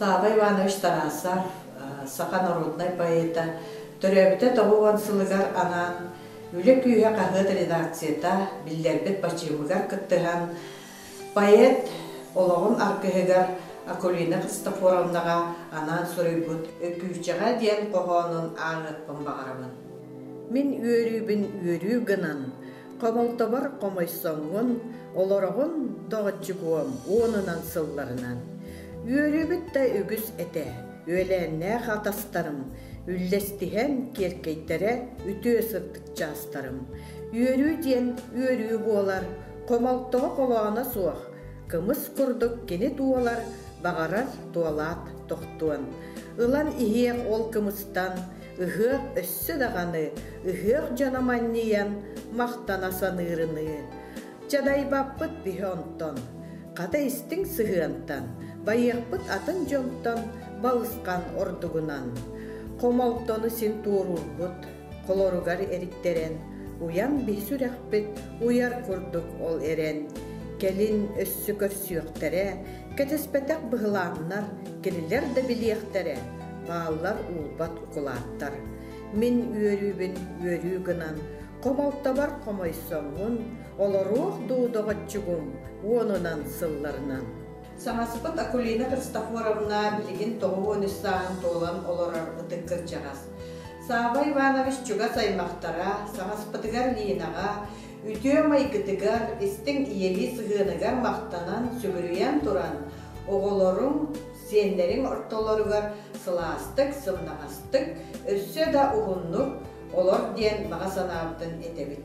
Слава Иванович Тарасов, саха норуодунай поэта, төрөөбүтэ тоҕус уон сылыгар анаан Үлэ күүһэ хаһыат редакцията биллэрбит бачыымыгар кыттыһан, поэт олоҕун аргыһыгар Акулина Христофоровнаҕа анаан суруйбут Өкүүчэҕэ диэн хоһоонун ааҕыахпын баҕарабын. Мин үөрүүбүн үөрүү гынан, Хомолтобор хомойсоҥҥун, олороҕун доҕоччугуом уонунан сылларынан. Үөрүүбүт да үгүс этэ, үөлээннээх атастарым, үллэстиһэн киэркэйтэрэ үтүө сырдык чаастарым. Үөрүү диэн үөрүү буолар, хомолтоҕо холооно суох, кымыс курдук кини туолар, баҕарар туолаат тохтуон. Ылан иһиэх ол кымыстан, ыһыах өссө даҕаны ыһыах дьоно манньыйан махтана саныырыныы, Дьадайбаппыт биһи онтон, хата истиҥ сыһыантан, байыахпыт атын дьонтон балысхан ордугунан. Хомолтону син туоруурбут холоругар эриттэрэн, уйан биһ сүрэхпит уйар курдук ол эрэн, кэлин өссө көрсүөхтэрэ, кэтэспэтэх быһылааннар кинилэр да билиэхтэрэ, Бааллар уурбат укулааттар. Мин үөрүүбүн үөрүү гынан, хомолтобор хомойсоммун, олоруох дуу доҕоччугум уонунан сылларынан. Сааспыт Акулина Христофоровна билигин тоҕус уон үс сааһын туолан олорор ытык кырдьаҕас. Саабай Иванович чугас аймахтара, саҕаспытыгар Линаҕа, үтүө майгытыгар, истиҥ ийэлии сыһыаныгар махтанан, сүгүрүйэн туран, оҕолоруҥ, Сиэннэриҥ ортолоругар сылаастык, сымнаҕастык, өссө да уһуннук олор диэн баҕа санаабытын этэбит.